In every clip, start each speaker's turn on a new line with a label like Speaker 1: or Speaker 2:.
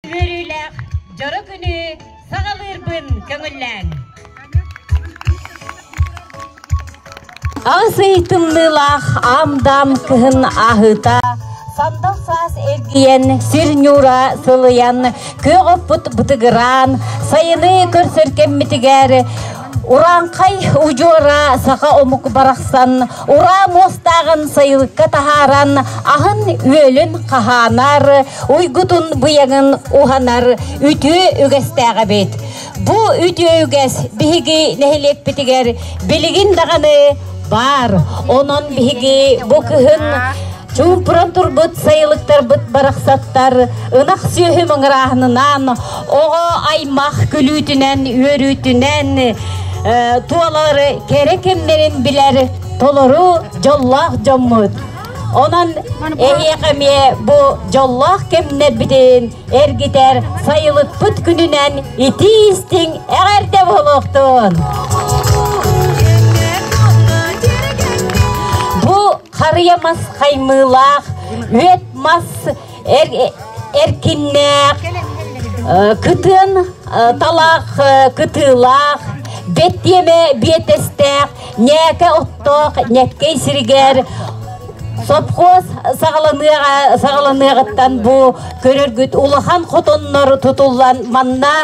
Speaker 1: Үөрүүлээх дьоро күнү саҕалыырбын көҥүллээҥ! Азый тымныылаах ам-дам кыһын аһыыта сандал саас эргийэн сир ньуура сылыйан күөх оппут бытыгыраан сайыны көрсөркэммитигэр Урааҥхай удьуора саха омук барахсан ураа муостааҕын сайылыкка таһааран аһын үөлүн хаһаанар, уйгутун быйаҥын уһанар үтүө үгэстээх эбит. Бу үтүө үгэс биһиги нэһилиэкпитигэр билигин даҕаны баар. Онон биһиги бу кыһын Чуумпуран турбут сайылыктарбыт барахсаттар ынах сүөһү мыҥырааһынынан, оҕо аймах күлүүтүнэн, үөрүүтүнэн э, туолары кэрэ кэмнэрин билэр толору дьоллоох дьоммут. Онон эһиэхэ эмиэ бу дьоллоох кэмнэрбитин эргитэр сайылыкпыт күнүнэн итии-истиҥ эҕэрдэ буолуохтун! Харыйа мас хаймыылаах, үөт мас эр, эркиннээх, кытыан талаах кытыылаах, бэттиэмэ биэтэстээх, ньээкэ оттоох ньэккэй сиригэр сопхуос саҕаланыаҕа саҕаланыаҕыттан бу көрөргүт улахан хотоннор тутуллан манна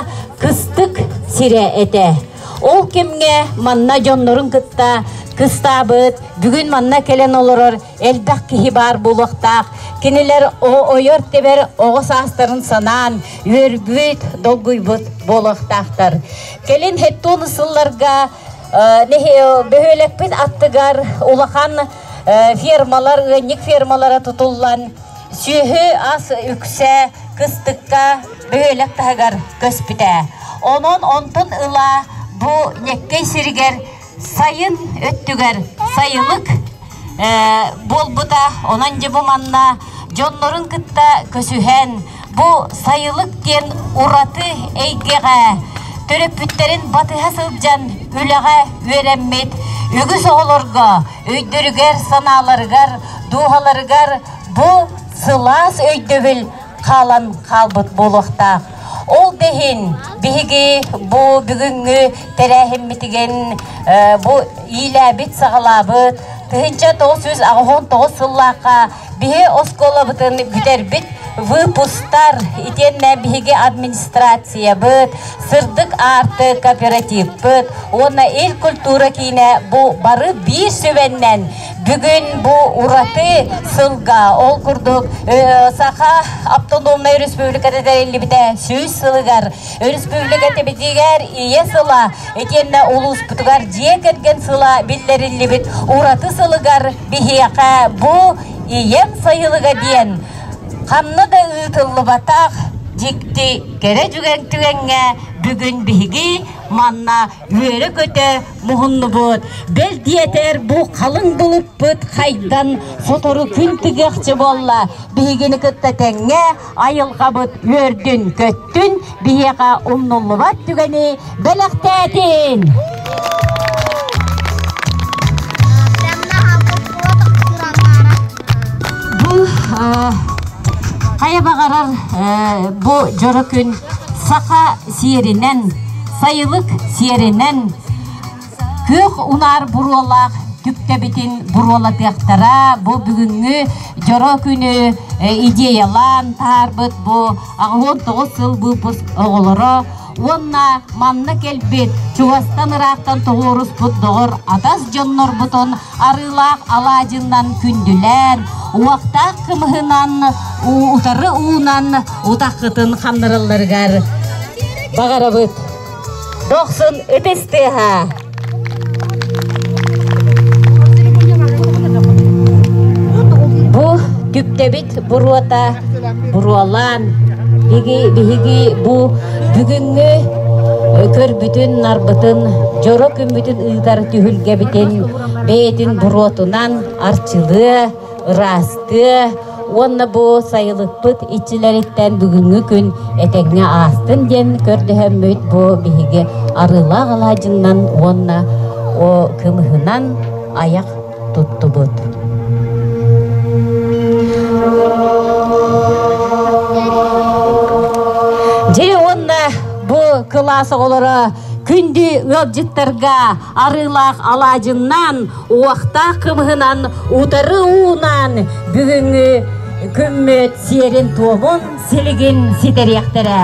Speaker 1: кыстык сирэ этэ. Ол кэмҥэ манна дьоннорун кытта кыстаабыт, бүгүн манна кэлэн олорор элбэх киһи баар буолуохтаах. Кинилэр ойор-тэбэр оҕо саастарын санаан, үөрбүт, долгуйбут буолуохтаахтар. Кэлин хэттуон сылларга бөһүөлэкпит аттыгар улахан фермалар, ыанньык фермалара тутуллан Сүөһү ас үксэ кыстыкка бөһүөлэк таһыгар көспүтэ. Онон онтон ыла бу Ньэккэй сиригэр сайын өттүгэр сайылык буолбута. Онон дьэ бу манна дьоннорун кытта көсүһэн бу сайылык диэн ураты эйгэҕэ төрөппүттэрин батыһа сылдьан үлэҕэ үөрэммит үгүс оҕолорго өйдөрүгэр-санааларыгар, дууһаларыгар Бу сылаас өйдөбүл хаалан хаалбыт буолуохтаах. Ол да иһин биһиги бу бүгүҥҥү тэрээһиммитигин бу иилээбит, саҕалаабыт тыһыынча тоҕус жүз аҕыһон тоҕус сыллаахха биһи оскуолабытын бүтэрбит выпустар итиэннэ биһиги администрациябыт, сырдык аарты кооперативпыт уонна Ил культура киинэ бу бары биир сүбэннэн Бүгүн бу ураты сылга, ол курдук Саха Автономнай Республиката тэриллибитэ сүүс сылыгар, өрөспүүбүлүкэ тибитигэр ийэ сыла итиэннэ улууспутугар дьиэ кэргэн сыла биллэриллибит ураты сылыгар биһиэхэ бу ийэм сайылыга диэн ханна да ыытыллыбатах дьикти кэрэ түгэн түгэҥҥэ бүгүн биһиги манна үөрэ-көтө муһуннубут. Бэл диэтэр, бу халыҥ былыппыт хайдан сотору күн тыгыахчы буолла. Биһигини кытта тэҥҥэ айылҕабыт үөрдүн-көттүн, биһиэхэ умнуллубат түгэни бэлэхтээтин! Бұл хайа баҕарар бу дьоро күн саха сиэринэн, сайылык сиэринэн күөх унаар буруолаах түктэбитин буруолатыахтара бу бүгүҥҥү дьоро күнү идеялаан таһаарбыт бу аҕыһын тоҕус сыл быыппыт оҕолоро уонна манна кэлбит чугастан ыраахтан тоҕуоруспут доҕор атас дьоннорбутун арыылаах алаадьынан күндүлээн уохтаах кымыһынан утары уунан утаххытын ханнаралларыгар баҕарабыт дохсун ытыс тыаһа Бу түктэбит буруота буруолаан биги биһиги бу бүгүҥҥү көрбүтүн-нарбытын дьоро күммүтүн ыытар түһүлгэбитин бэйэтин буруотунан арчылыа ыраастыа уонна бу сайылыкпыт иччилэриттэн бүгүҥҥү күн этэҥҥэ аастын диэн көрдөһөммүт бу биһиги арыылаах алаадьыннан уонна о кымыһынан айах туттубут дьэ уонна бу кылаас оҕолоро күндү ыалдьыттарга арыылаах алаадьыннан Уохтаах кымыһынан утары уунан бүгүҥҥү күммүт сиэрин-туомун, силигин ситэриэхтэрэ.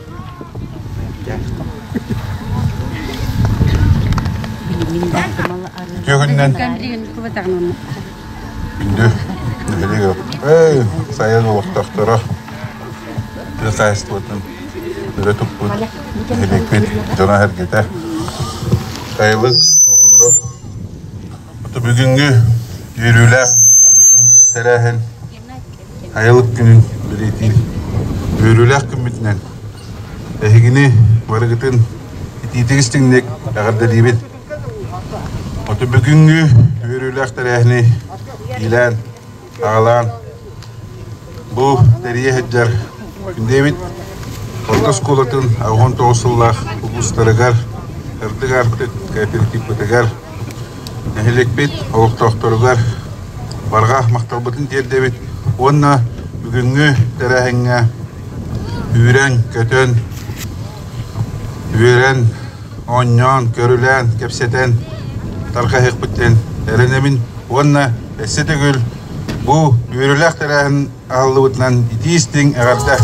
Speaker 1: Дьүһүннэн. Күндү нэһилиэк эй, сайын олохтохторо хозяйствотын үлэ туппут нэһилиэкпит дьоно-сэргэтэ сайылык оҕолоро бүгүҥҥү үөрүүлээх тэрээһин Айылык күнүн бэлиэтиир үөрүүлээх күммүтүнэн эһигини барыгытын итиитик-истиҥник эҕэрдэлиибит! Оту бүгүҥҥү үөрүүлээх тэрээһини иилээн, аҕалаан бу тэрийэ сылдьар Күндиэбит орто оскуолатын аҕыс уон тоҕус сыллаах улуустарыгар, сырдык аартыкка тиркиппитигэр Нэһилиэкпит олохтоохторугар барҕа махталбытын тиэрдэбит уонна бүгүҥҥү тэрээһиҥҥэ үүрэн-көтөн, үөрэн, оонньоон, көрүлээн, кэпсэтэн тарҕаһыахпытын эрэнэбин уонна өссө төгүл бу үөрүүлээх тэрээһин аһыллыбытынан итии истиҥ эҕэрдэ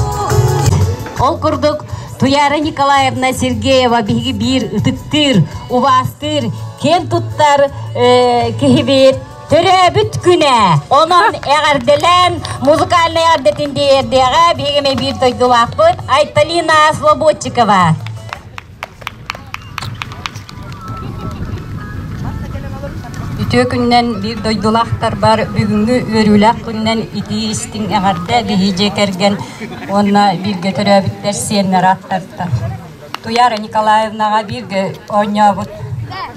Speaker 1: ол курдук Туяра Николаевна Сергеева биһиги биир ытыктыыр, убаастыыр, киэн туттар э, киһибит төрөөбүт күнэ онон эҕэрдэлээн музыкальнай эҕэрдэтин тиэрдиэҕэ биһиги биир дойдулаахпыт Айталина Слободчикова Үтүө күннэн биир дойдулаахтарбар бүгүҥҥү үөрүүлээх күннэн итии-истиҥ эҕэрдэ биһиги кэргэн уонна бииргэ төрөөбүттэр сиэннэр ааттарда. Туяра Николаевнаҕа бииргэ оонньообут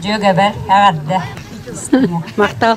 Speaker 1: дьүөгэбэр эҕэрдэ. Махтал.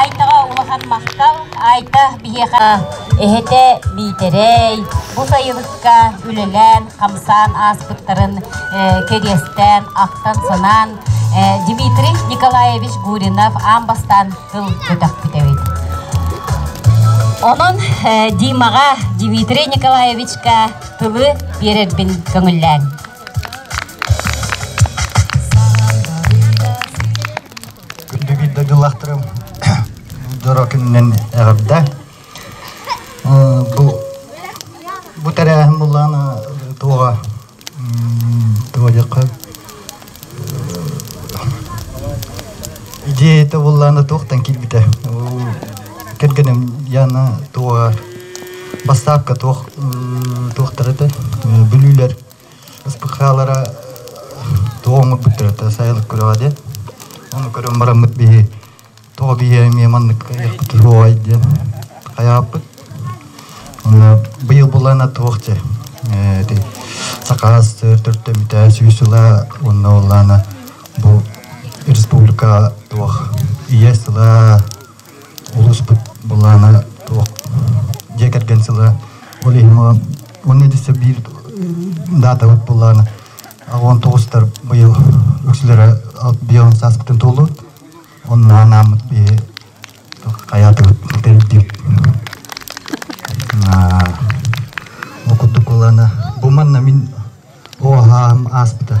Speaker 1: Айдаҕа улахан махтал. Айда биһиэхэ эһэтэ Биитэрэй бу сайылыкка үлэлээн, хамсаан ааспыттарын кэриэстээн, ахтан-санаан Дмитрий Николаевич Гуринов аан бастаан тыл көтөхпүт эбит. Онон Димаҕа Дмитрий Николаевичка тылы биэрэрбин көҥүллээн. Күндүгүт дагылахтарым дьоро күнүнэн эҕэрдэ. Бу бу тэрээһин булаан туоҕа туоjakка идеята буллаана туохтан килбитэ кэргенем яна туоҕа бастаапка туох туохтарыта бүлүүлэр СПХ-лара тоҕо оҥорбут төрүөттэрэ сайылык күрэҕэ диэн. Ону көрөн бараммыт биһи тоҕо биһи эмиэ маннык кыайыахпыт суоҕай диэн хайаҕаппыт. Быйыл былаана туох дьэ ити саха сыр төрүттэммитэ сүүс сыла уонна ол аана бу республика туох ийэ сыла улууспут былаана туох дьиэ кэргэн сыла ол иһин уонна үтүсэ биир даатабыт былаана он тоҕустар быйыл үксүлэрэ бион сааспытын туолуут онна анааммыт биһи хаятыбыт тэрдиим окуттук булана бу манна мин оһаам ааспыта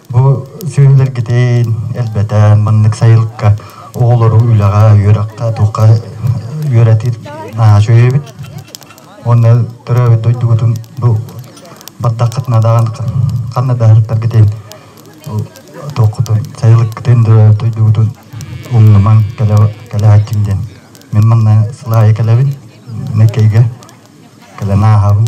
Speaker 1: Бу сүрүлэргитин элбэтэ маннык сайылыкка оҕолору үлэҕэ, үөрэххэ, туохха үөрэтир наһаа үчүгэйбит. Уонна төрөөбүт дойдугутун бу бардаххыт надаҕан ханна да сырыттаргытын туоххутун сайылыккытын төрөөбүт дойдугутун умнумаҥ кэлэ кэлэһэччим диэн мин манна сыл аайы кэлэбин Нөкейгэ кэлэн ааһабын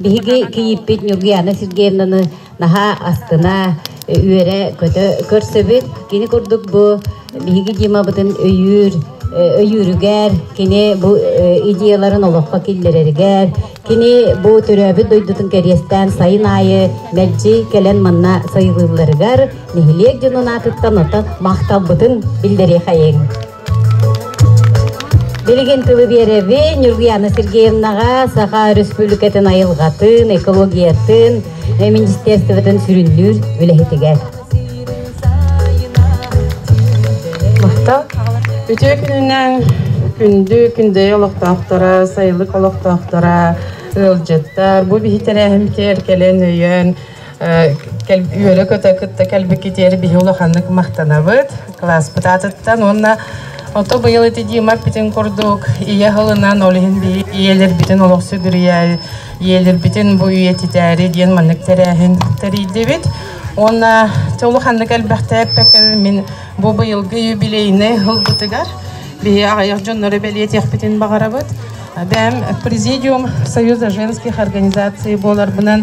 Speaker 1: Биһиги Кийииппит Ньургуяна Сергеевнаны наһаа астына, үөрэ-көтө көрсөбүт. Кини курдук бу биһиги Димабытын өйүүр өйүүрүгэр, кини бу идеяларын олоххо киллэрэригэр, кини бу төрөөбүт дойдутун кэриэстээн сайын аайы мэлдьи кэлэн манна сайылыылларыгар нэһилиэк дьонун аатыттан оттон махталбытын биллэриэхэйиҥ. Билигин тылы биэрэбин Ньургуяна Сергеевнаҕа Саха Өрөспүүбүлүкэтин айылҕатын, экологиятын, министерствотын сүрүннүүр үлэһитигэр. Махтал. Үтүө күнүнэн күндү күндэйи олохтоохторо, сайылык олохтоохторо, ыалдьыттар, бу биһи тэрээһим киэр кэлэн өйөөн, үөрэ-көтө кытта кэлбикитиэри биһи улаханнык махтанабыт класспыт аатыттан уонна Ото быйыл ити диэмаппитин курдук ийэ хылынан ол иһин биһи ийэлэрбитин олох сүдүрүйэ ийэлэрбитин бу үйэтитээри диэн маннык тэрээһин тэрийдибит уонна толу ханнык элбэхтээппэккэ мин бу быйылгы юбилейный ылбытыгар биһи аҕайах дьоннору бэлиэтиэхпитин баҕарабыт бэм президиум союза женских организаций буоларбынан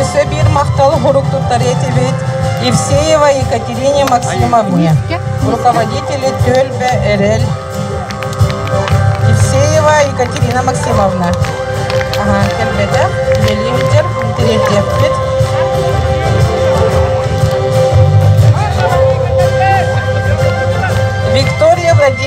Speaker 1: Өссө биир махтал урук туттарыа этибит Евсеева Екатерине Максимовне, руководители Төлбэ Эрэл. Евсеева Екатерина Максимовна. Ага, келбеде, елиндер, интересеппит. Виктория Владимировна.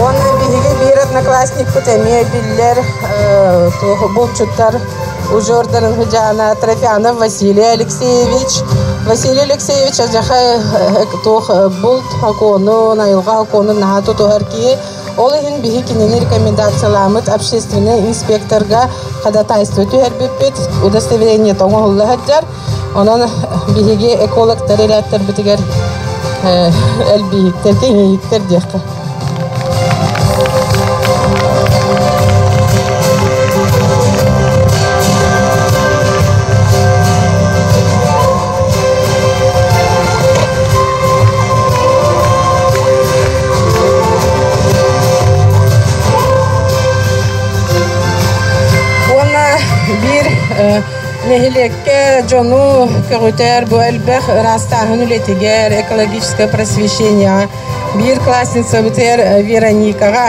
Speaker 1: Уонна биһиги биир одноклассникпыт эмиэ биллэр булчуттар ужордарын хыдьаана Трофянов Василий Алексеевич. Василий Алексеевич ажаха туох булт окуону, найылга окуонун наһаа тутуһар киһи Ол иһин биһи кинини рекомендациyaламмыт общественнай инспекторга ходатайство түһэрбиппит, удостоверение оҥоһулла сылдьар. Онон биһиги экологтар элээктэрбитигэр элбииттэр, киҥииттэр диэххэ. нэһилиэккэ дьону көҕүтэр бу элбэх ыраастааһын үлэтигэр экологическое просвещение биир классница бытыар Вероникаҕа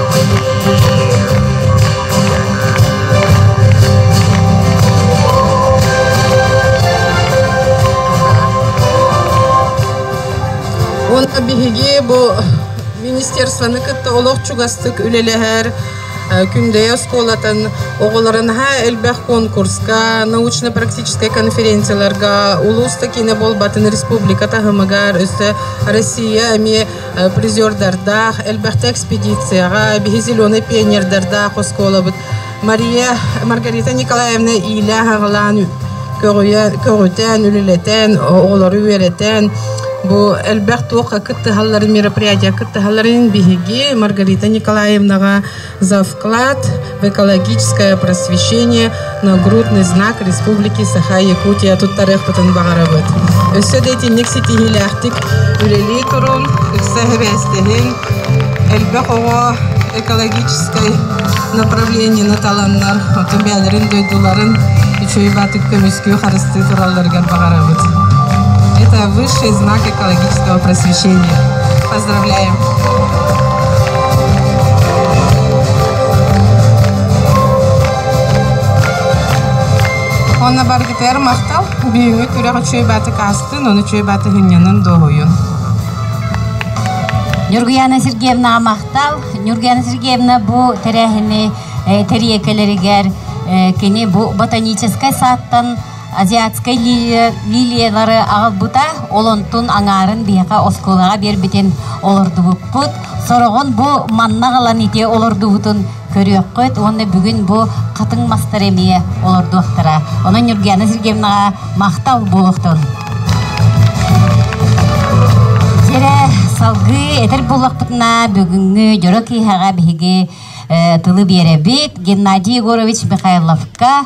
Speaker 1: Уонна биһиги бу министерствоны кытта олох чугастык үлэлэһэр Күндэйэ оскуолатын оҕолору наһаа элбэх конкурска, научно-практическай конференцияларга, улуус да киинэ буолбатын республика таһымыгар, өссө Россия эмиэ призердардаах, элбэхтэ экспедицияҕа, биһи зеленый пионердардаах оскуолабыт Мария Маргарита Николаевна иилээх-аҕалаан көҕүтэн, үлэлэтэн, оҕолору үөрэтэн, бу элбэх туохха кыттыһалларын, мероприятия кыттыһалларын биһиги Маргарита Николаевнаҕа за вклад в экологическое просвещение на грудный знак Республики Саха-Якутия туттарыахпытын баҕарабыт. Өссө да итинник ситиһиилээхтик үлэлии турун, ыкса эбээстэһин, элбэх оҕо экологическай направлениены таланнар, оту бэйэлэрин дойдуларын үчүөйбатык көмүскүү харыстыы туралларыгар баҕарабыт. Это высший знак экологического просвещения. Онно баргытыгар махтал. Бүгүҥҥү күрэх үчүгэй бааты каастын, оны үчүгэй бааты хүнньэнин доһуйун. Нюргуяна Сергеевна махтал. Нюргуяна Сергеевна бу тэрээһини э, тэриэкэлэригэр э, кини бу ботаническай сааттан азиатскай лилиялары аҕалбыта, ол онтун аҥаарын биһиэхэ оскуолаҕа биэрбитин олордубуппут. Сороҕон бу манна ылан ити олордубутун көрүөххүт уонна бүгүн бу хатыҥ мастары эмиэ олордуохтара. Онон Ньургиана Сергеевнаҕа махтал буолуохтун. Сирэ салгыы этэр буоллахпытына бүгүҥҥү дьоро киэһэҕэ биһиги тылы биэрэбит. Геннадий Егорович Михайловка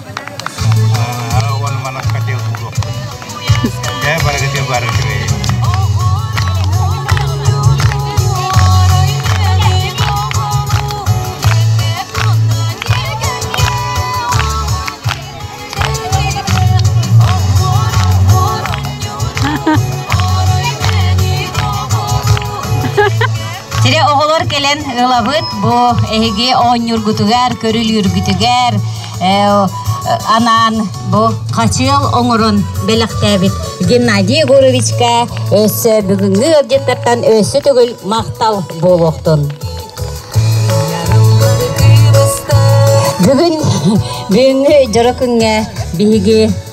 Speaker 1: уон манах хотел булуохпут. Даа барыга те бар Сире оголор келен ылабыт бу эһиги оонньургутугар, көрүлүүргүтүгэр анаан бу хачыал оҥорон бэлэхтээбит Геннадий Егоровичка өссө бүгүҥҥү ыалдьыттартан өссө төгүл махтал буолуохтун. Бүгүн бүгүҥҥү дьоро күҥҥэ биһиги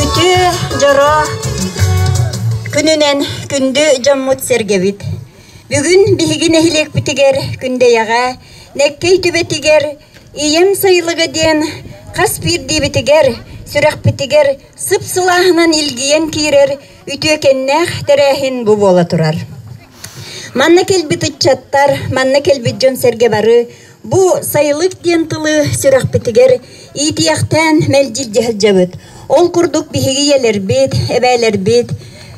Speaker 1: Үтүө, дьоро күнүнэн күндү дьоммут сэргэбит. Бүгүн биһиги нэһилиэкпитигэр Күндэйэҕэ Нэккэй түбэтигэр Ийэм сайылыга диэн хас биирдиибитигэр сүрэхпитигэр сып-сылааһынан илгийэн киирэр үтүөкэннээх тэрээһин бу буола турар. Манна кэлбит ыччаттар, манна кэлбит дьон-сэргэ бары Бу сайылык диэн тылы сүрэхпитигэр иитиэхтээн мэлдьирдьэ сылдьабыт. Ол курдук биһиги ийэлэрбит, эбээлэрбит,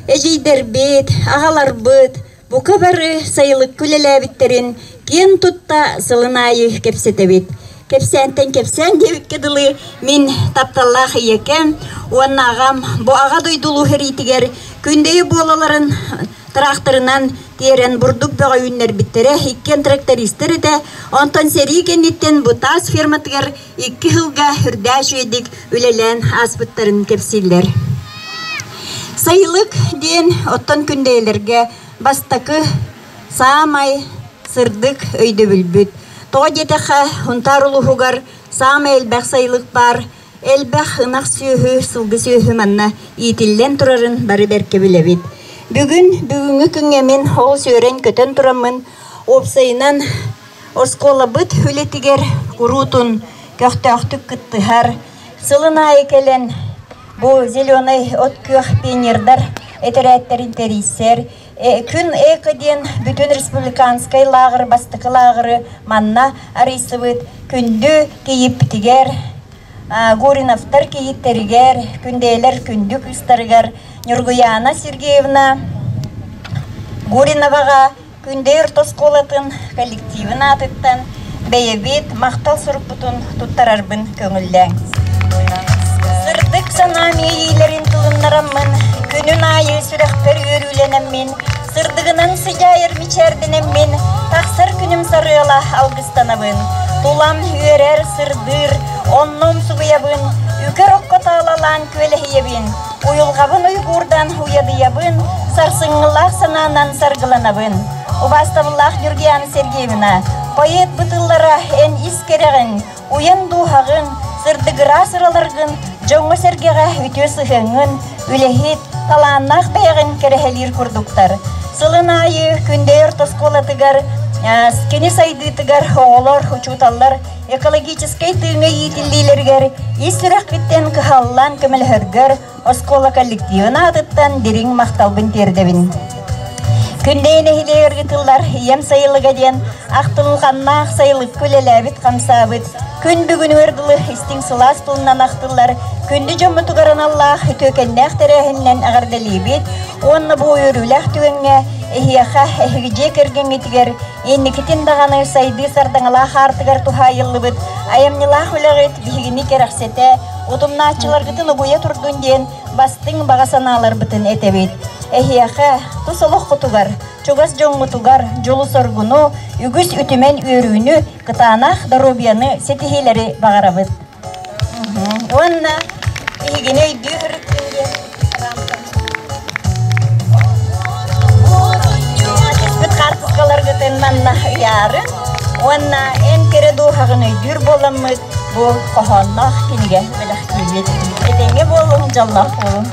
Speaker 1: эдьиийдэрбит, аҕаларбыт бука бары сайылыкка үлэлээбиттэрин киэн тутта сылын аайы кэпсэтэбит. Кэпсээнтэн кэпсээн диэбиккэ дылы, мин тапталлаах ийэкэм уонна аҕам бу Аҕа дойду улуу сэриитигэр күндэйи буолаларын Тыраахтарынан тиэрэн бурдук бөҕө үүннэрбиттэрэ иккиэн трактористар этэ. Онтон сэрии кэнниттэн Бутаас ферматыгар икки сылга үрдээх үчүгэйдик үлэлээн ааспыттарын кэпсииллэр. Сайылык диэн оттон күндэйэлэргэ бастакы саамай сырдык өйдөбүлбүт. Тоҕо диэтэххэ, Унтаар улууһугар саамай элбэх сайылык баар Элбэх ынах сүөһү, сылгы сүөһү манна иитиллэн турарын бары бэркэ билэбит. Бүгүн бүгүҥҥү күҥҥэ мин ол сүөрэн-көтөн тураммын, уопсайынан оскуолабыт үлэтигэр куруутун көхтөөхтүк кыттыһар. Сылын аайы кэлэн бу «Зеленый от-күөх» пионердар этэрээттэрин тэрийсэр, Күн эко диэн бүтүн республиканскай лааҕыр бастакы лааҕыры манна арыйсыбыт күндү кийиппитигэр, Гуриновтар кийиттэригэр, Күндэйэлэр күндү кыыстарыгар Ньургуйаана Сергеевна Гуриноваҕа Күндэйэр тосхуолатын коллективын аатыттан Бэйэбит махтал сурукпутун туттарарбын көҥүллээҥ. Сырдык санаам иэйиилэрин тылыннараммын, күнүн аайы сүрэхпэр үөрүүлэнэммин, сырдыгынан сыдьаайар мичээрдэнэммин, тахсар күнүм сарыала алгыстанабын. Тулам үөрэр, сырдыыр, оннум субуйабын, үкэр окко таалалаан күөлэһийэбин. Уйулҕабын уйгуурдаан уйадыйабын, сарсыҥҥылаах санаанан саргыланабын. Убаастабыллаах Георгиана Сергеевна, поэт бытыыллара эн ис кэрэҕин, уйан дууһаҕын, сырдыгыраа сыраларгын, дьоҥҥо-сэргэҕэ үтүө сыһыаҥҥын, үлэһит, талааннаах бэйэҕин кэрэһэлиир курдуктар. Сылын аайы Күндэйэр тоскуолатыгар, кини сайдыытыгар оҕолор, учууталлар Экологическай тыыҥа иитиллиилэригэр ис сүрэхпиттэн кыһаллан көмөлөһөргөр оскуола коллективын аатыттан дириҥ махталбын тиэрдэбин. Күндэйи нэһилиэгэр ыытыллар Ийэм сайылыга диэн ахтылҕаннаах сайылыкка үлэлээбит хамсаабыт күн бүгүнүгэр дылы истиҥ сылаас тылынан ахтыллар күндү дьоммутугар аналлаах түөкэннээх тэрээһининэн эҕэрдэлиибит уонна бу үөрүүлээх түгэҥҥэ эһиэхэ эһиги дьиэ кэргэҥҥитигэр Инникитин даҕаны сайдыы сардаҥалаах аартыгар туһаайыллыбыт айымньылаах үлэҕит биһигини кэрэхсэтэ, утумнааччыларгытын угуйа турдун диэн бастыҥ баҕа санааларбытын этэбит. Эһиэхэ, тус олоххутугар, чугас дьоҥҥутугар дьолу-соргуну, үгүс үтүмэн үөрүүнү, кытаанах доруобуйаны ситиһиилэри баҕарабыт. Уонна биһигини өйдүү ырыттын диэн рамкам. Ачыкпыт хаартыскаларгытын манна ыйаарын уонна эн кэрэ дууһаҕын өйдүүр буоламмыт бу хоһоонноох кинигэ бэлэхтиибит. Этэҥҥэ буолуҥ, дьоллоох буолуҥ.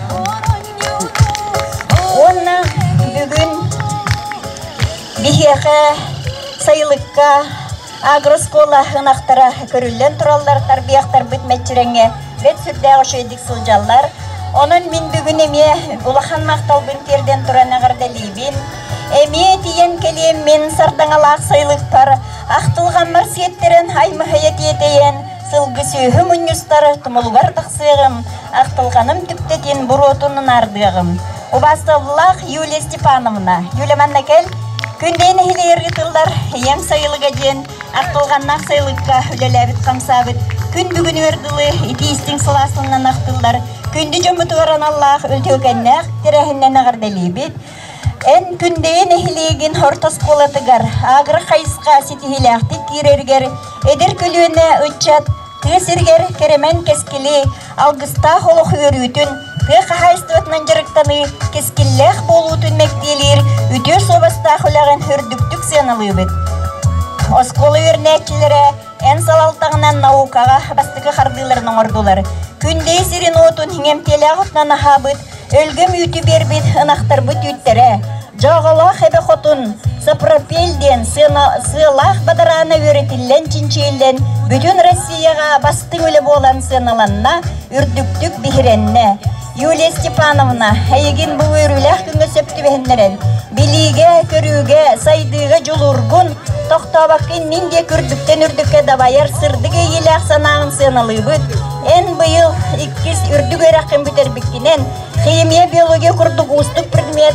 Speaker 1: Уонна бүгүн биһиэхэ сайылыкка Агроскуола ынахтара көрүллэн тураллар, тарбыйахтарбыт мэччирэҥҥэ бэрт сүрдээх үчүгэйдик сылдьаллар. Онон мин бүгүн эмиэ улахан махталбын тиэрдэн туран эҕэрдэлиибин. Эмиэ тиийэн кэлиэммин сардаҥалаах сайылыкпар ахтылҕаммар сиэттэрэн аймыһыйа тиэтэйэн Сылгы сүөһү мунньустар тумулугар тахсыаҕым, ахтылҕаным түптэтин буруотун наардыаҕым. Убаасталлаах Юлия Степановна, Юлия манна кэл, күндэй нэһилиэр ыытыллар ийэм сайылыга диэн ахтылҕаннаах сайылыкка үлэлээбит хамсаабыт күн бүгүнүгэр дылы итиистиҥ сылаастынан ахтыллар күндү дьоммутугар аналлаах үтүөкэннээх тэрээһиннэн эҕэрдэлиибит, Эн Күндэйэ нэһилиэгин орто оскуолатыгар агрохайысха ситиһиилээхтик киирэригэр эдэр көлүөнэ ыччат тыа сиригэр кэрэмэн кэскили, алгыстаах олох үөрүүтүн, тыа хаһаайыстыбатынан дьарыктаныы кэскиллээх буолуутун мэктиэлиир үтүө суобастаах үлэҕин үрдүктүк сыаналыыбыт. Оскуола үөрэнээччилэрэ Эн салалтаҕынан наукаҕа бастакы хардыыларын оҥордулар. Күндэй сирин-уотун иҥэмтиэлээх отунан аһаабыт, өлгөм үүтү биэрбит ынахтарбыт үүттэрэ, дьааҕылаах эбэ хотун, сапропел диэн сыалаах бадараана үөрэтиллэн-чинчийиллэн, бүтүн Россияҕа бастыҥ үлэ буолан сыаналанна, үрдүктүк биһирэннэ. Юлия Степановна, эйигин бу үөрүүлээх күҥҥэ сөп түбэһиннэрэн, билиигэ, көрүүгэ, сайдыыга дьулургун, тохтообоккун мин диэ үрдүктэн-үрдүккэ дабайар сырдык иэйиилээх санааҕын сыаналыыбыт. Эн быйыл иккис үрдүк үөрэххин бүтэрбиккинэн, химия, биология курдук уустук предмет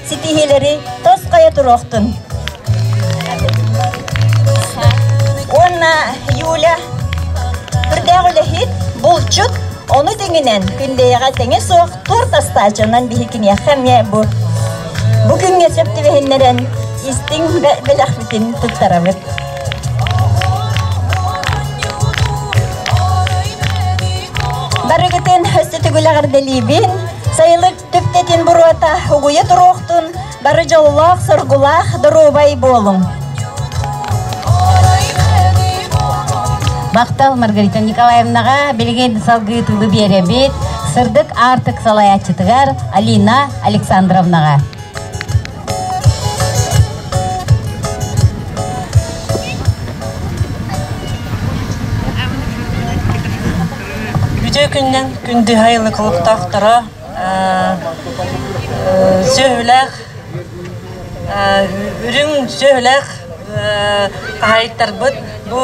Speaker 1: ситиһиилэри тосхойо туруохтун. Уонна Юля үрдээх үлэһит, булчут, ону тэҥинэн күндэйэҕэ тэҥэ суох туорт астаачынан биһи киниэхэ эмиэ бу бу күҥҥэ сөп түбэһиннэрэн истиҥ бэлэхпитин туттарабыт. Барыгытын өстө түгүл эҕэрдэлиибин, сайылык Түптэтин буруота угуйа туруохтун, бары дьоллоох-соргулаах доруобай буолуҥ! Бахтал Маргарита Николаевнаҕа билигин салгыы тылы биэрэбит сырдык аартык салайааччытыгар Алина Александровнаҕа. Бүтүү күннэн күндү айылы кулуктаахтара Сөһүлээх үрүҥ сөһүлээх хаһаайыттарбыт бу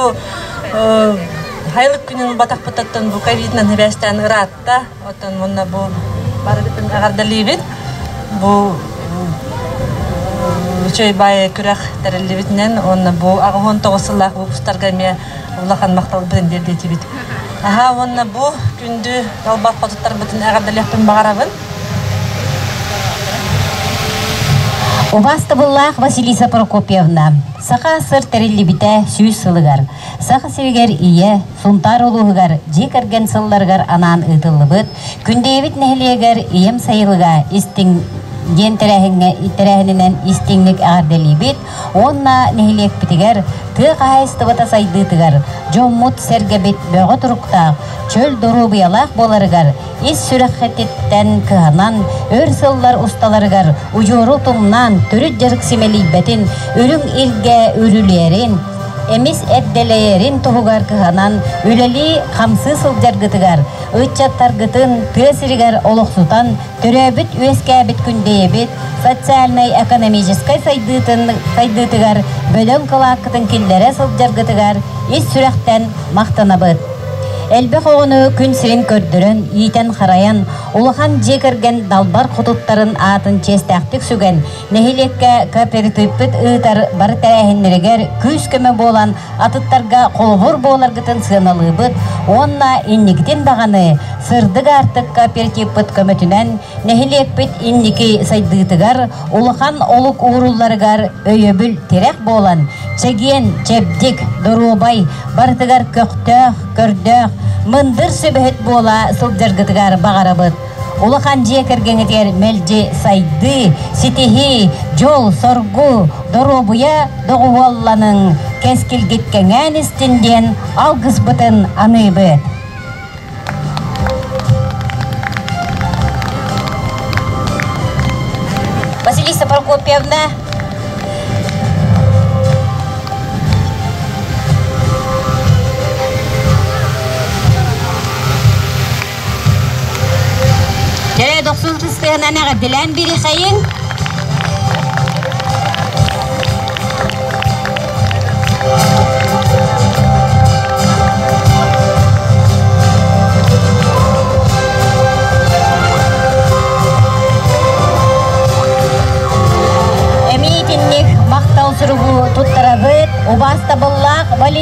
Speaker 1: хайылык күнүн батахпытыттан бу ковидынан хибээстээн ыраатта оттон мунна бу барыбытын эҕэрдэлиибит бу үчүгэй бай күрэх тэриллибитинэн уонна бу аҕы он тоҕус сыллаах выпустарга эмиэ улахан махталбытын тиэрдиэчибит аhaa уонна бу күндү толбох хотуттарбытын эҕэрдэлиэхпин баҕарабын Убастабыллаах Василиса Прокопьевна, Саха сыр тэриллибитэ сүүс сылыгар, Саха сиригэр ийэ, Сунтаар улууһугар дьиэ кэргэн сылларыгар анаан ыытыллыбыт Күндэйэбит нэһилиэгэр ийэм сайылыга истиҥ диэн тэрээһиҥҥэ тэрээһининэн истиҥник эҕэрдэлиибит, Уонна нэһилиэкпитигэр тыа хаһаайыстыбата сайдыытыгар дьоммут-сэргэбит бөҕө туруктаах, чөл доруобуйалаах буоларыгар ис сүрэххититтэн кыһанан, өр сыллар усталарыгар удьуору тумнаан төрүт дьарык симэлийбэтин, үрүҥ илгэ үрүлүөрин, эмис эрдэлэйэрин туһугар кыһанан үлэлии-хамсыы сылдьаргытыгар, ыччаттаргытын тыа сиригэр олохсутан Төрөөбүт үөскээбит күндэйэбит социальнай-экономическай сайдыытын сайдыытыгар бөдөҥ кылааккытын киллэрэ сылдьаргытыгар ис сүрэхтэн махтанабыт. Элбэх оҕону күн сирин көрдөрөн, иитэн-харайан, улахан дьиэ кэргэн далбар хотуттарын аатын чиэстээхтик сүгэн, нэһилиэккэ кооперативпыт ыытар бары тэрээһиннэригэр күүс-көмө буолан атыттарга холобур буоларгытын сыаналыыбыт уонна инникитин даҕаны сырдык аартыкка перкиппыт көмөтүнэн нэһилиэкпит инники сайдыытыгар улахан олук уурулларыгар өйөбүл тирэх буолан чэгиэн, чэбдик, доруобай, барытыгар көхтөөх, көрдөөх, мындыр сүбэһит буола сылдьаргытыгар баҕарабыт. улахан дьиэ кэргэҥҥитигэр мэлдьи сайдыы, ситиһии, дьол-соргу, доруобуйа доҕуһуолланыҥ, кэскилгит кэҥээн истин диэн алгысбытын аныыбыт. Василиса Прокопьевна, Кэрэ дохсун кыстыһынан эҕэрдэлээн биэриэхэйиҥ! Эмиитинник махтал суругу туттарабыт убаастабыллаах Валентина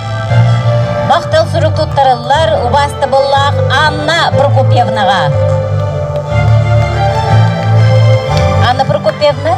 Speaker 1: Махтал сурук туттарыллар убаастабыллаах Анна Прокопьевнаға. Анна Прокопьевна,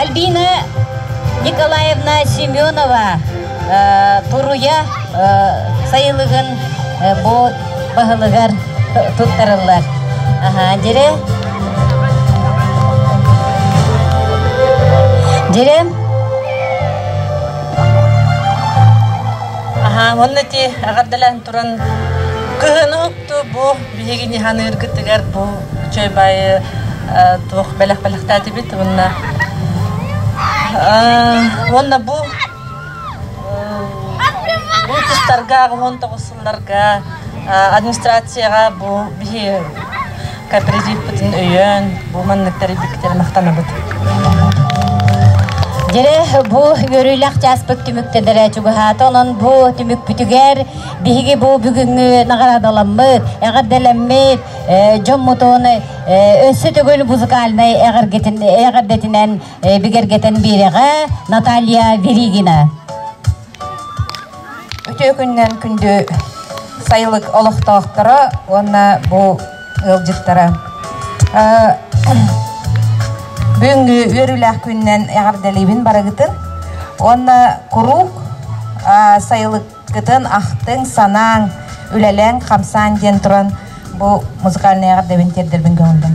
Speaker 1: альбина николаевна семенова туруйа сайылыгын бу баһылыгар туттарыллар. Аха, дирэ. Дирэ. Аха, онно ти ағардалан туран кыһын ұқты бу биһиги ниһаныыргытыгар бу чөйбайы туох бэлэх-бэлэхтээтибит онна онна бу Бу тустарга, аҕымон тоҕуссулларга администрацияҕа бу биһи кооперативпытын өйөөн, бу манныктары биктери махтанабыт. Дирэ бу үөрүүлэх чааспыт түмүктедere чугаһаата, онон бу түмүкпүтүгэр биһиги бу бүгүҥҥү наҕараадаламмыт, эҕэрдэлэммит дьоммутун өссө төгүл музыкальнай эҕэрдэтинэн бигэргэтэн биэрэҕэ Наталья Веригина. Үтүө күннэн күндү сайылык олохтоохторо уонна бу ыалдьыттара. Бүгүҥҥү үөрүүлээх күннэн эҕэрдэлиибин барыгытын. Уонна куруук сайылык Кытын ахтыҥ, санааҥ, үлэлээҥ, хамсааҥ диэн туран бу музыкальнай эҕэрдэбин тиэрдэрбин көҥүллүм.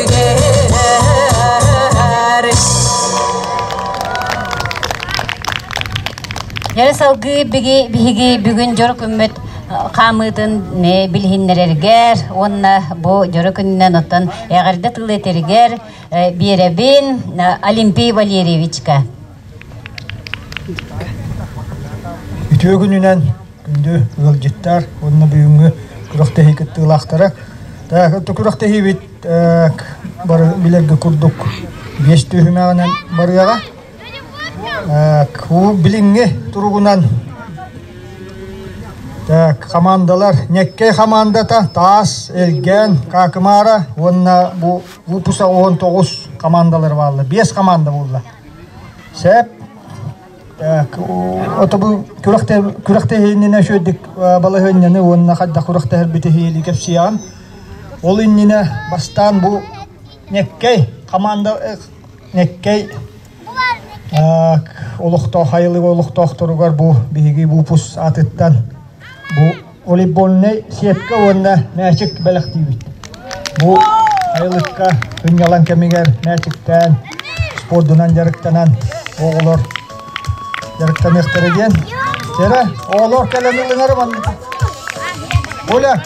Speaker 1: Дьэ салгыы биги, биһиги бүгүн дьоро күммүт хаамыытын билиһиннэрэргэр уонна бу дьоро күнүнэн оттон эҕэрдэ тылы этэригэр биэрэбин Олимпий Валерьевичка. Үтүө күнүнэн күндү ыалдьыттар уонна бүгүҥҥү күрэхтэһии кыттыылаахтара. Күрэхтэһиибит бары билэргэ курдук биэс түөһүмэҕинэн барыаҕа. Кубок билиҥҥи туругунан хамаандалар Ньэккэй хамаандата таас, элгээн, Каакымаара уонна бу выпуска он тоҕус хамаандалар бааллар. Биэс хамаанда буолла. Сээп отобу күрөхтө иннинэ үшүөрдүк балаһыанньаны уонна хайдах күрөхтөһөрбүтү иһиэлии кэпсиэҕим. Ол иннинэ бастаан бу Ньэккэй хамаанда Ньэккэй олохтоох айылык олохтоохторугар бу биһиги буупус аатыттан бу волейбольнай сетка уонна мээчик бэлэхтиибит. Бу айылыкка сынньалаҥ кэмигэр мээчиктээн, спордунан дьарыктанан оҕолор дьарыктаныахтара диэн. Сэрэ, оҕолор кэлэн ылыңар маннык. Оля,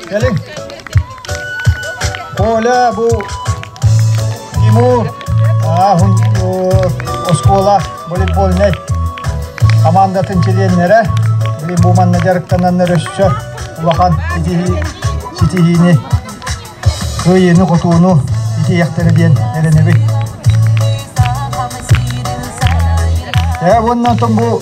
Speaker 1: кэлиҥ. Коля бу Тимур ааһын оскуола волейбольнай командатын чилиэннэрэ блин бу манна дьарыктананнар өссө улахан ситиһии ситиһиини кыайыыны-хотууну итиэхтэрэ диэн эрэнэбин. Ээ уонна бу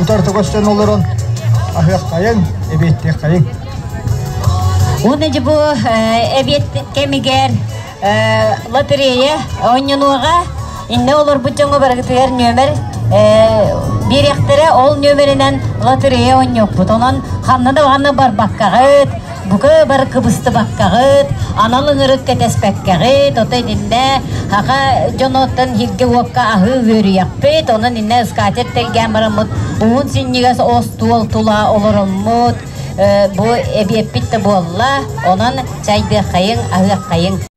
Speaker 1: утарта көстөн олорон аһыаххайыҥ, эбиэттиэххайыҥ. Уонна же бу эбиэт кэмигэр лотерея оонньонуоҕа инне олорбут дьоҥҥо барыгытыгар нөмер биэриэхтэрэ ол нөмеринэн лотерея оонньуохпут онон ханна да барбаккаҕыт Бука бар кыбыстыбаккаҕыт, анал ыҥырык кэтэспэккэҕит, оттон иннэ хаха дьонуттан иһиргэ-уокка аһыы үөрүйэхпит, онон иннэ скатер тэлгээн бараммыт уһун синньигэс остуол тула олороммут, бу эбиэппит да буолла, онон чайдыаххайыҥ, аһыаххайыҥ.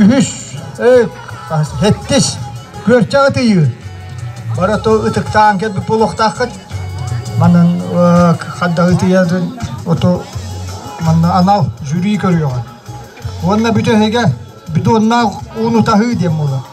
Speaker 1: үһүс сэттис күөрчэх атыйыы барыта ытыктаан кэлбит буолуохтааххыт манан хаддаҕы ытыйарын оту манна анал жюри көрүөҕүн уонна бүтүн эһиге бидоннаах ууну таһыы диэн буолар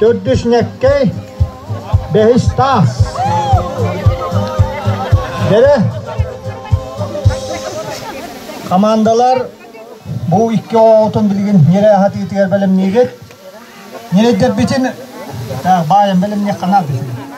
Speaker 1: Төрдүснэккэй бэһис таас бэрэ хамаандалар бу икки оҕотун билигин миэрэ аһатыытыгар бэлэмниигит. Ньирэйдэрбитин баайан бэлэмниэххэ наада.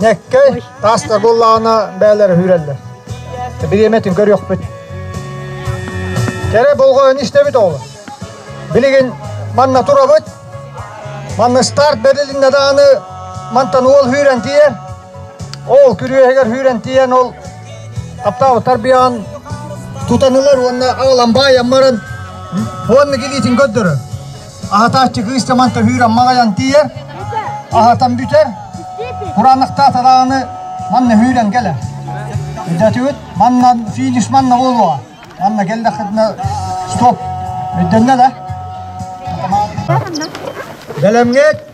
Speaker 1: Ньэккэй таас да буллаҕына бээлэр сүүрэллэр. Бириэмэ түн көрүөхпүт. Кэрэ болҕойон истэбит оҕолор. Билигин манна турабыт. Манна старт бэрилиннэ дааны мантан уол хүүрэн тиийэ. Ол күрүөһүгэр хүүрэн тиийэн ол аптаабы тарбыйаан тутанылар уонна аҕалан баайан баран уонна килиитин көрдөрөр. Аһатааччы кыыс таман төһүүр аммаҕайан тиийэр, аһатан бүтэр, кураанахтаах тарааны манна һүүрэн кэлэр. Өйдөтүбүт, манна финиш манна буолуо. Манна келлэххитинэ стоп. Өйдөннө да? Бэлэмҥит!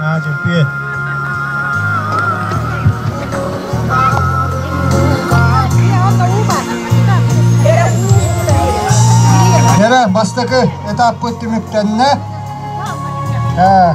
Speaker 1: Аа, чемпион. Кэрэ бастакы этаппыт түмүктэннэ. Э,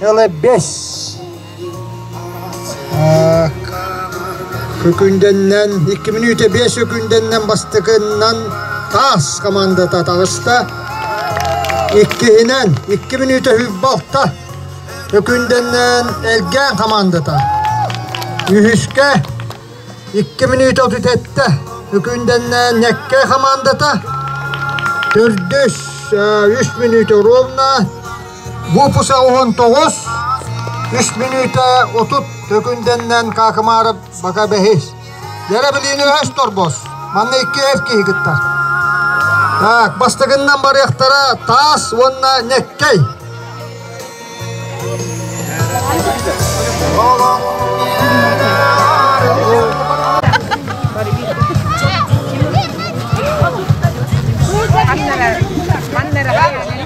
Speaker 1: Тылы бэс. Күкүндэннэн, икки мүнүүтэ биэс үкүндэннэн бастакыннан таас командата таҕыста. Иккиһинэн, икки мүнүүтэ хүйбалта. Үкүндэннэн элгээн командата. Үһүскэ, икки мүнүүтэ отут эттэ. Үкүндэннэн ньэккэ командата. Төрдүс, үс мүнүүтэ ровно. Буопуса уһун тоҕус, үс мүнүүтэ отут Төкүндэннэн Каакымаарап Бака бэһис. Дэрэбилиини өһөс торбос. Манна икки эр киһи кыттар. Так, бастакыннан барыахтара таас уонна ньэккэй. Маннара, маннара.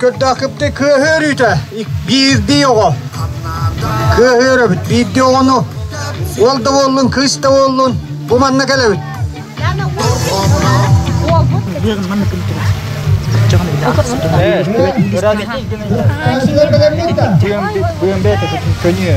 Speaker 1: көрдөөхүпте кыһыөрүүтэ биирдии оҕо кыһыөрөбүт биирдии оҕону уол да буоллун кыыс да буоллун бу манна кэлэбит Көнүө.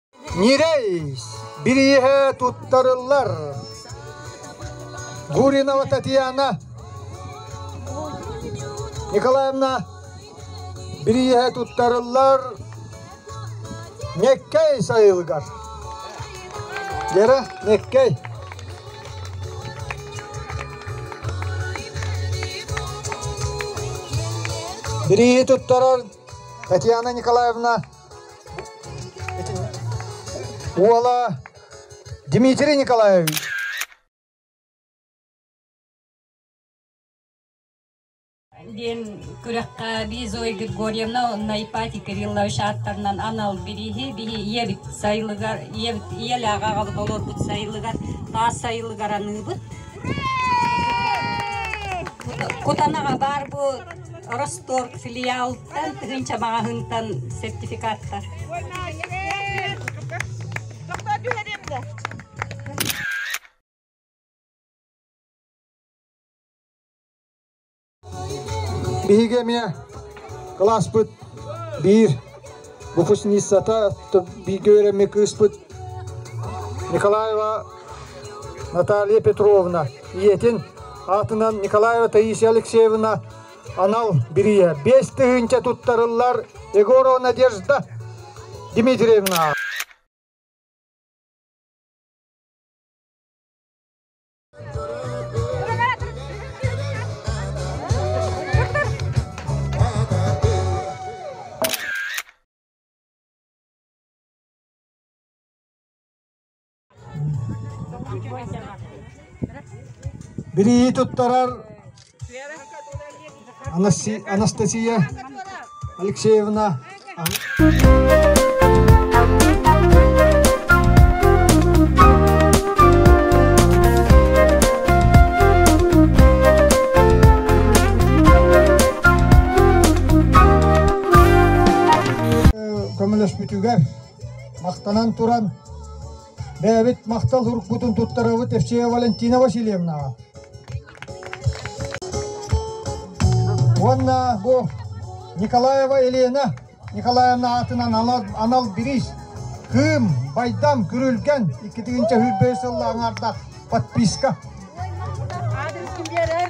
Speaker 1: Ньирэй бирииһэ туттарыллар. Гуринова Татьяна Николаевна бирииһэ туттарыллар Меккэй сайылыгар. Гера Меккэй. Бирииһи туттарар Татьяна Николаевна Уола Дмитрий Николаевич. диэн күрэххэ би Зоя Григорьевна Найпати Кириллович ааттарынан анал бириһи биһи ийэбит сайылыгар ийэбит ийэлээҕэ аҕабыт олорбут сайылыгар таас сайылыгар аныыбыт Кутанаҕа баар бу Росток филиал тыгын чабаҕаһынтан сертификаттар. Доктор түһэриэмдэ. Биһиги эмиэ кылааспыт биир выпускницата, бииргэ үөрэммит кыыспыт Николаева Наталья Петровна. Ийэтин аатынан Николаева Таисия Алексеевна Анал бирийэ биэс тыһыынча туттарыллар Егорова Надежда Дмитриевна. Билии туттарар Анастасия Алексеевна көмөлөспүтүгэр махтанан туран бэйэбит махтал уруккутун туттарабыт Евсея Валентина Васильевнаҕа уонна бу Николаева Елена Николаевна аатынан анал, анал бириис Кым, Байдам, Күрүлгэн иккитигинчэ сүүрбэһис сылла аҥарда подписка. Адресым берер.